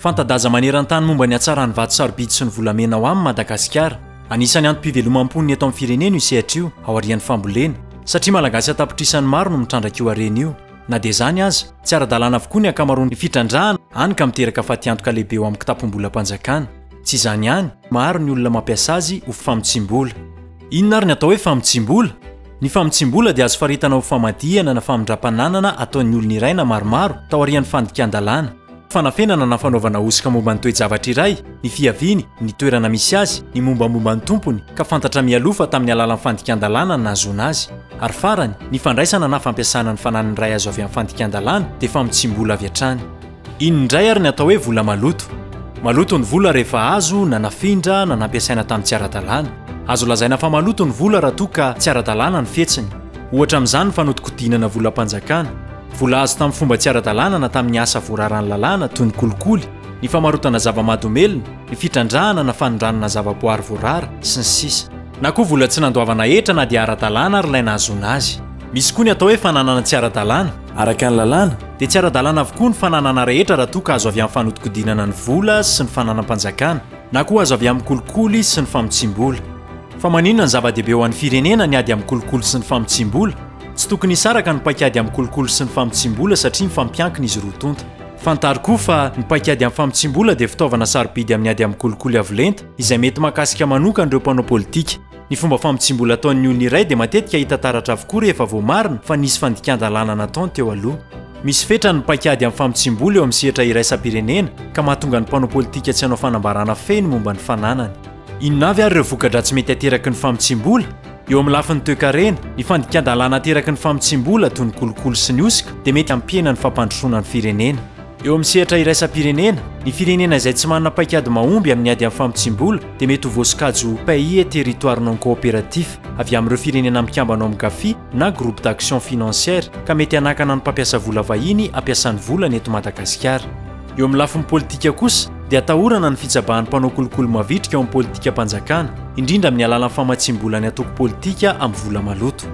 Fanta-daza maneran-tany momba ny hatsaran'ny vato sarobidy sy ny volamena ao amin' Madagasikara. Anisan'ny antom-pivelomam-pon' ny eto amin'ny firenena io sehatra io aorian'ny fambolena, satria Malagasy an-tapitrisany maro no mitrandraka io harena io. Na dia izany aza, tsy ara-dalàna avokoa ny ankamaroan'ny fitrandrahana, hany ka miteraka fatiantoka lehibe eo amin'ny kitapom-bolam-panjakana. Tsy izany ihany, maro ny olona mampiasa azy ho famotsiam-bola. Inona ary ny atao hoe famotsiam-bola? Ny famotsiam-bola dia azo faritana ho famadihana na famindram-pananana ataon'ny olona iray na maromaro taorian'ny fandikan-dalàna, fanafenana na fanaovana hosoka momba ny toe-javatra iray, ny fiaviany, ny toerana misy azy, ny mombamomba ny tompony, ka fantatra mialoha fa tamin'ny alalan'ny fandikan-dalàna no nahazoana azy. Ary farany, ny fandraisana na fampiasana ny fananan'ny iray azo avy amin'ny fandikan-dalàna dia famotsiam-bola avy hatrany. Inona indray ary ny atao hoe vola maloto? Maloto ny vola rehefa azo na nafindra na nampiasaina tamin'ny tsy ara-dalàna. Azo lazaina fa maloto ny vola raha toa ka tsy ara-dalàna ny fihetsiny. Ohatra amin'izany ny fanodinkodinana volam-panjakana, vola azo tamin'ny fomba tsy ara-dalàna na tamin'ny asa voararan'ny lalàna toy ny kolikoly, ny famarotana zava-mahadomelina, ny fitrandrahana na fanondranana zavaboary voarara, sy ny sisa. Na koa vola tsy nandoavana hetra na dia ara-dalàna ary ilay nahazoana azy. Misy koa ny atao hoe fananana tsy ara-dalàna. Araka ny lalàna, dia tsy ara-dalàna avokoa ny fananana rehetra raha toa ka azo avy amin'ny fanodikodinana ny vola sy ny fananam-panjakana, na koa azo avy amin'ny kolikoly sy ny famotsiam-bola. Fa maninona no zava-dehibe ho an'ny firenena ny ady amin'ny kolikoly sy ny famotsiam-bola? Tsy tokony hisaraka ny paik'ady amin'ny kolikoly sy ny famotsiam-bola satria mifampiankina izy roa tonta. Fantaro koa fa ny paik'ady amin'ny famotsiam-bola dia fitaovana sarobidy amin'ny ady amin'ny kolikoly avo lenta izay mety mahakasika manokana ireo mpanao politika. Ny fomba famotsiam-bola ataon'ny olona iray dia matetika hita taratra avokoa rehefa voamarina fa nisy fandikan-dalàna nataony teo aloha. Misy fetrany ny paikady amin'ny famotsiam-bola eo amin'ny sehatra iraisam-pirenena, ka mahatonga ny mpanao politika tsy hanao fanambarana feno momba ny fananany. Inona avy ary ireo voka-dratsy mety ateraky ny famotsiam-bola? Eo amin'ny lafiny toekarena, ny fandikan-dalàna ateraky ny famotsiam-bola, toy ny kolikoly sy ny hosoka, dia mety hampihena ny fampandrosoana ny firenena. Eo amin'ny sehatra iraisam-pirenena, ny firenena izay tsy manana paikady mahomby amin'ny ady amin'ny famotsiam-bola dia mety ho voasokajy ho Pays et Territoires non coopératifs avy amin'ireo Firenena Mikambana ao amin'ny Gafi na Groupe d'Action Financière ka mety hanakana ny mpampiasa vola vahiny hampiasany volany eto Madagasikara. Eo amin'ny lafiny politika kosa dia atahorana ny fitsabahan'ny mpanao kolikoly mavitrika ao amin'ny politikam-panjakana, indrindra amin'ny alalan'ny famatsiam-bola ny antoko politika amin'ny vola maloto.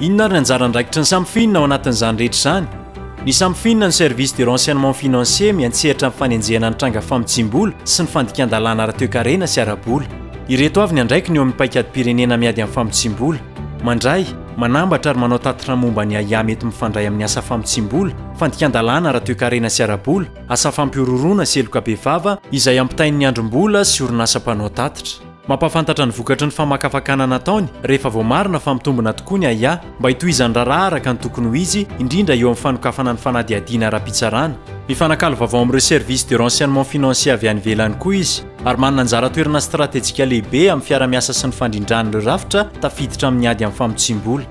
Inona ary ny anjara andraikitry ny samy fihinana ao anatin'izany rehetra izany? Ny Samfin, ny Service de Renseignement Financier, miantsehatra amin'ny fanenjehana ny tranga famotsiam-bola sy ny fandikan-dalàna ara-toekarena sy ara-bola. Ireto avy ny andraikiny eo amin'ny paikadim-pirenena miady amin'ny famotsiam-bola, mandray, manambatra ary manao tatitra momba ny ahiahy mety mifandray amin'ny asa famotsiam-bola, fandikan-dalàna ara-toekarena sy ara-bola, asa fampihorohoroana sy heloka bevava izay ampitain'ny andrim-bola sy orinasa mpanao tatitra. Mampahafantatra ny vokatry ny famakafakana nataony rehefa voamarina fa mitombina tokoa ny ahiahy mba hitohizan'ny raharaha araka ny tokony ho izy, indrindra eo amin'ny fanokafana ny fanadihadiana ara-pitsarana. Mifanakalo vaovao amin'ireo services de renseignement financier avy any ivelany koa izy, ary manana anjara toerana stratejika lehibe amin'ny fiara-miasa sy ny fandrindràna ireo rafitra tafiditra amin'ny ady amin'ny famotsiam-bola.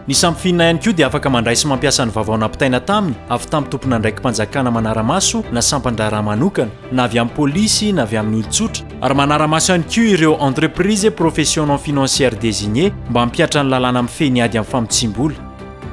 Ny Samfin ihany koa dia afaka mandray sy mampiasa ny vaovao nampitaina taminy avy tamin'ny tompon'andraiki-panjakana manara-maso na sampan-draharaha manokana. na avy amin'ny polisy na avy amin'ny olon-tsotra, ary manara-maso ihany koa ireo entreprises et professions non financières désignées mba hampihatra ny lalàna mifehy ny ady amin'ny famotsiam-bola.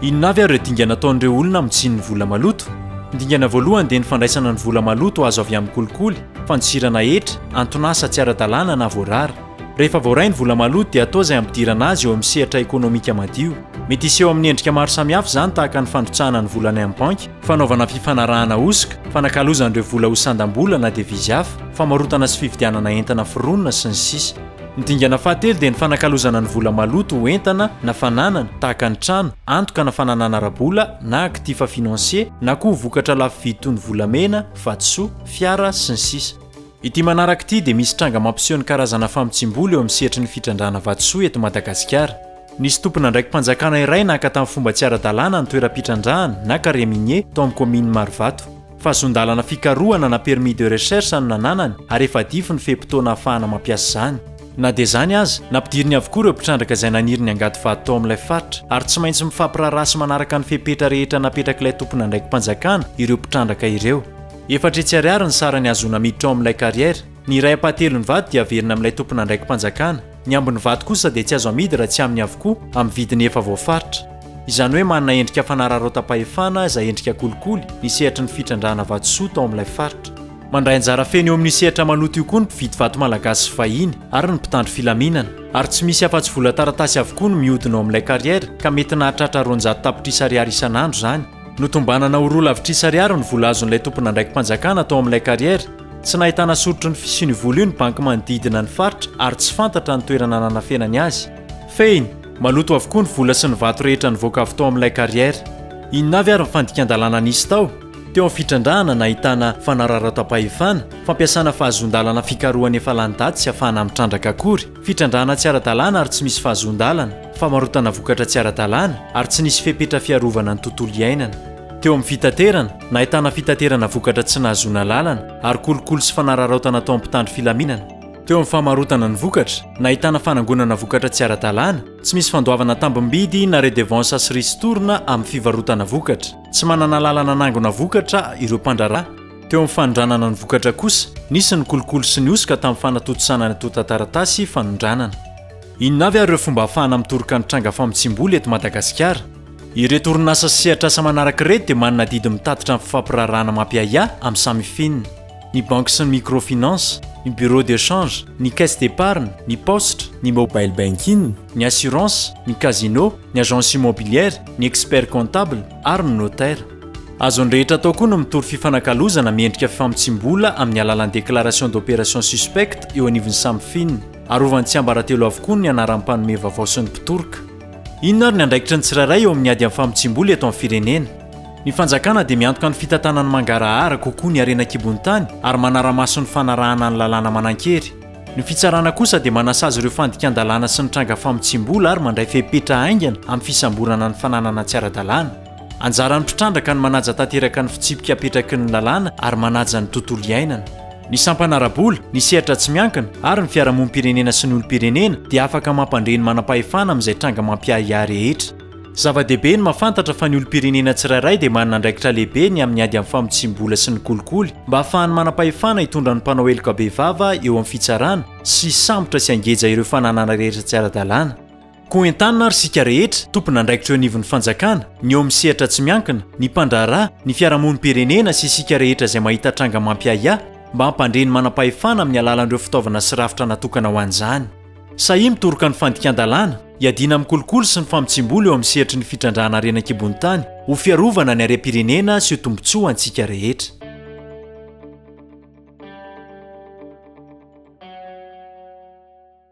Inona avy ary ireo dingana ataon'ireo olona amin'ny tsin'ny vola maloto? Ny dingana voalohany dia ny fandraisana ny vola maloto azo avy amin'ny kolikoly, fandosirana hetra, anton'asa tsy ara-dalàna na voarara. Rehefa voaray ny vola maloto dia atao izay hampidirana azy eo amin'ny sehatra ekonomika madio. Mety hiseho amin'ny endrika maro samihafa izany tahaka ny fandrotsahana ny vola any amin'ny banky, fanaovana fifanarahana hosoka, fanakalozana ireo vola ho sandam-bola na devizy hafa, famarotana sy fividianana entana foronina, sy ny sisa. Ny dingana fahatelo dia ny fanakalozana ny vola maloto ho entana na fananana tahaka ny trano, antoka na fananana ara-bola na actifs financiers na koa ho vokatra lafo vidy toy ny volamena, vatosoa, fiara, sy ny sisa. Ity manaraka ity dia misy tranga mampiseho ny karazana famotsiam-bola eo amin'ny sehatry ny fitrandrahana vatosoa eto Madagasikara. Nisy tompon'andraiki-panjakana iray naka tamin'ny fomba tsy ara-dalàna ny toeram-pitrandrahana na carré minier tao amin'ny kaominina Marovato. Fahazon-dalana fikarohana na permis de recherche no nananany ary efa adify ny fe-potoana ahafahana mampiasa izany. Na dia izany aza, nampidiriny avokoa ireo mpitrandraka izay naniry ny hangady vato tao amin'ilay faritra ary tsy maintsy mifampiraharaha sy manaraka ny fepetra rehetra napetrak'ilay tompon'andraiki-panjakana ireo mpitrandraka ireo. Efatra hetsy ariary ny sarany hahazoana miditra ao amin'ilay carrière. Ny iray ampahatelon'ny vato dia averina amin'ilay tompon'andraiki-panjakana. Ny ambin'ny vato kosa dia tsy azo amidy raha tsy aminy avokoa, amin'ny vidiny efa voafaritra. Izany hoe manana endrika fanararaotam-pahefana izay endrika kolikoly ny sehatry ny fitrandrahana vatosoa tao amin'ilay faritra. Mandray anjara feno eo amin'io sehatra maloto io koa ny mpividy vato malagasy sy vahiny ary ny mpitandro filaminana. Ary tsy misy afa-tsy vola taratasy avokoa no mihodina ao amin'ilay carrière ka mety nahatratra roanjato tapitrisa ariary isan'andro izany. Notombanana ho roa lavitrisa ariary ny vola azon'ilay tompon'andraiki-panjakana tao amin'ilay kariera. Tsy nahitana soritry ny fisian'io vola io ny banky manodidina ny faritra ary tsy fantatra ny toerana nanafenany azy. Fehiny, maloto avokoa ny vola sy ny vato rehetra nivoaka avy tao amin'ilay kariera. Inona avy ary ny fandikan-dalàna nisy tao? Teo amin'ny fitrandrahana nahitana fanararaotam-pahefana, fampiasana fahazoan-dalana fikarohana efa lany daty tsy afahana mitrandraka akory. Fitrandrahana tsy ara-dalàna ary tsy misy fahazoan-dalana, famarotana vokatra tsy ara-dalàna ary tsy nisy fepetra fiarovana ny tontolo iainana. Teo amin'ny fitaterana, nahitana fitaterana vokatra tsy nahazoana alalana ary kolikoly sy fanararaotana ataon'ny mpitandro filaminana. Teo amin'ny famarotana ny vokatra, nahitana fanangonana vokatra tsy ara-dalàna, tsy misy fandoavana tambim-bidy na redevansa sy ristourne amin'ny fivarotana vokatra, tsy manana alalana hanangona vokatra ireo mpandraharaha, Teo amin'ny fanondranana ny vokatra kosa, nisy ny kolikoly sy ny hosoka tamin'ny fanatontosana ny antontan-taratasy fanondranana. Inona avy ary ireo fomba ahafahana mitoroka ny tranga famotsiam-bola eto Madagasikara? Ireto orinasa sy sehatr'asa manaraka ireto dia manana adidy mitatitra ny fifampiraharahana mampiahiahy amin'ny Samifin, ny banky sy ny microfinance, ny bureau de change, ny caisse d'épargne, ny paositra, ny mobile banking, ny assurance, ny casino, ny agence immobilière, ny expert comptable ary ny notaire. Azon'ny rehetra atao koa ny mitory fifanakalozana miendrika fifamotsiam-bola amin'ny alalan'ny déclaration d'opération suspecte eo anivon'ny Samfin. Arovan'ny tsiambaratelo avokoa ny anaran'ny mpanome vaovao sy ny mpitoroka. Inona ary ny andraikitry ny tsirairay eo amin'ny ady amin'ny famotsiam-bola eto amin'ny firenena? Ny fanjakana dia miantoka ny fitantanan'ny mangarahara kokoa ny harena an-kibon'ny tany ary manara-maso ny fanarahana ny lalàna manan-kery. Ny fitsarana kosa dia manasazy ireo fandikan-dalàna sy ny tranga famotsiam-bola ary mandray fepetra haingana amin'ny fisamborana ny fananana tsy ara-dalàna. Anjaran'ny mpitrandraka ny manaja tanteraka ny fitsipika apetraky ny lalàna ary manaja ny tontolo iainana. Ny sampana ara-bola, ny sehatra tsy miankina ary ny fiarahamonim-pirenena sy ny olom-pirenena dia afaka mampandre ny manam-pahefana amin'izay tranga mampiahiahy rehetra. Zava-dehibe ny mahafantatra fa ny olom-pirenena tsirairay dia manana andraikitra lehibe ny amin'ny ady amin'ny famotsiam-bola sy ny kolikoly mba hahafahan'ny manam-pahefana hitondra ny mpanao heloka bevava eo amin'ny fitsarana sy hisambotra sy hangeja ireo fananana rehetra tsy ara-dalàna. Koa entanina ary isika rehetra, tompon'andraikitra eo anivon'ny fanjakana, ny eo amin'ny sehatra tsy miankina, ny mpandraharaha, ny fiarahamonim-pirenena sy isika rehetra izay mahita tranga mampiahiahy mba hampandre ny manam-pahefana amin'ny alalan'ireo fitaovana sy rafitra natokana ho an'izany. Sahia mitoroka ny fandikan-dalàna, hiadiana amin'ny kolikoly sy ny famotsiam-bola eo amin'ny sehatry ny fitrandrahana harena an-kibon'ny tany ho fiarovana ny harem-pirenena sy ho tombontsoa antsika rehetra.